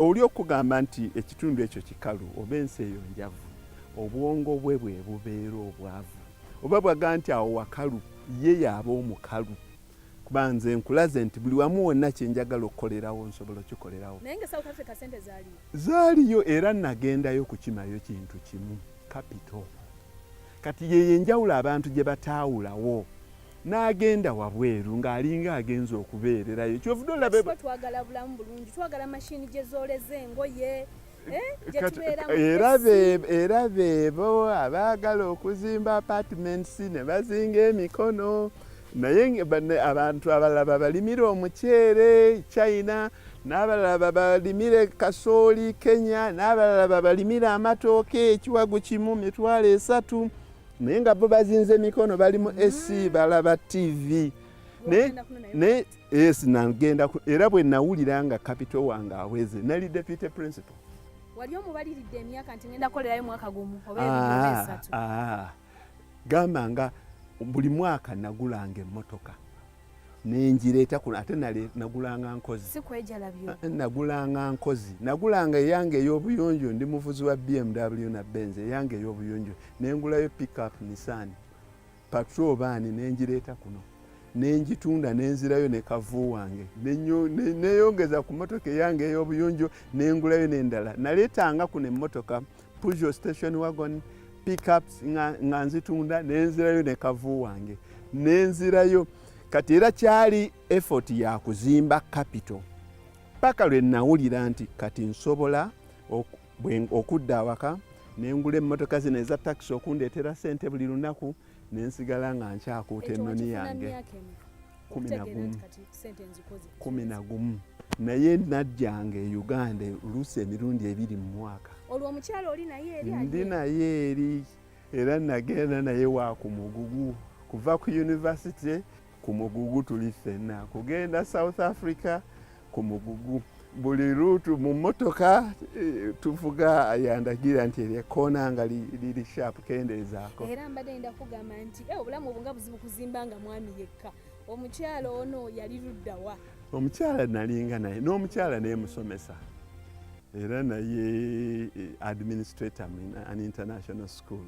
Oli okugamba nti ekitundu ekyo kikalu oba ensi eyo njavu, obwongo bwe bwe bubeera obwavu. Oba bwaga nti awo wakalu, ye y'aba omukalu. Kuba nze nkulaze nti buli wamu wonna kye njagala okukolerawo nsobola okikolerawo. Naye nga e South Africa ssente zaaliyo? Zaaliyo era nnagendayo kukimayo kintu kimu, kapito. Kati y'eyo enjawulo abantu gye bataawulawo. n'agenda wabweru ng'alinga agenza okubeererayo kyovude olabe twagala bulamu bulungi twagala mashini gye zooleza engoye eh, era beebo abaagala okuzimba apartments ne bazinga emikono naye abantu abalala babalimira omuceere china n'abalala babalimire kasooli kenya n'abalala babalimire amatooke ekiwagu kimu mitwalo esatu naye nga bo bazinze emikono bali mu ac mm. balaba tv yes nagenda era bwe nawulira nga kapito wange aweze nali deputy principal wali omubaliridde emyaka nti ngenda kolerayo mwaka gumu oba ah, esatu ah. gamba nga buli mwaka nagulanga emmotoka nenjireeta kuno ate nagulanga nkozi ah, eh, nagulanga nkozi nagulanga eyange ey'obuyonjo ndi muvuzi wa bmw na benz eyange ey'obuyonjo nengulayo pickup nissan patro baani nenjireeta kuno nenjitunda nenzirayo ne kavu wange neyongeza ku motoka eyange ey'obuyonjo nengulayo nendala naleetanga kuno emmotoka Peugeot station wagon pickups nga nzitunda nenzirayo ne kavu wange nenzirayo kati era kyali effort ya kuzimba capital paka lwe nawulira nti kati nsobola okudda awaka nengula emmotoka zino eza takisi okundeetera sente buli lunaku nensigala nga nkyakuuta ennoni yange kumi na gumu naye najjanga e uganda oluusi emirundi ebiri mu mwaka olwo omukyala oli naye eri ndi naye eri era nagenda naye wa ku mugugu kuva ku yunivasite ku mugugu tuli ffenna kugenda south africa ku mugugu buli ruutu mu mmotoka eh, tuvuga yandagira nti eryo ekkoona nga liri shaapu kendeezaako era mbadde nda kugamba nti eh, obulamu obunga buzibu kuzimba nga mwami yekka omukyala ono yali luddawa omukyala nalinga naye n'omukyala nemusomesa era naye eh, administrator in an international school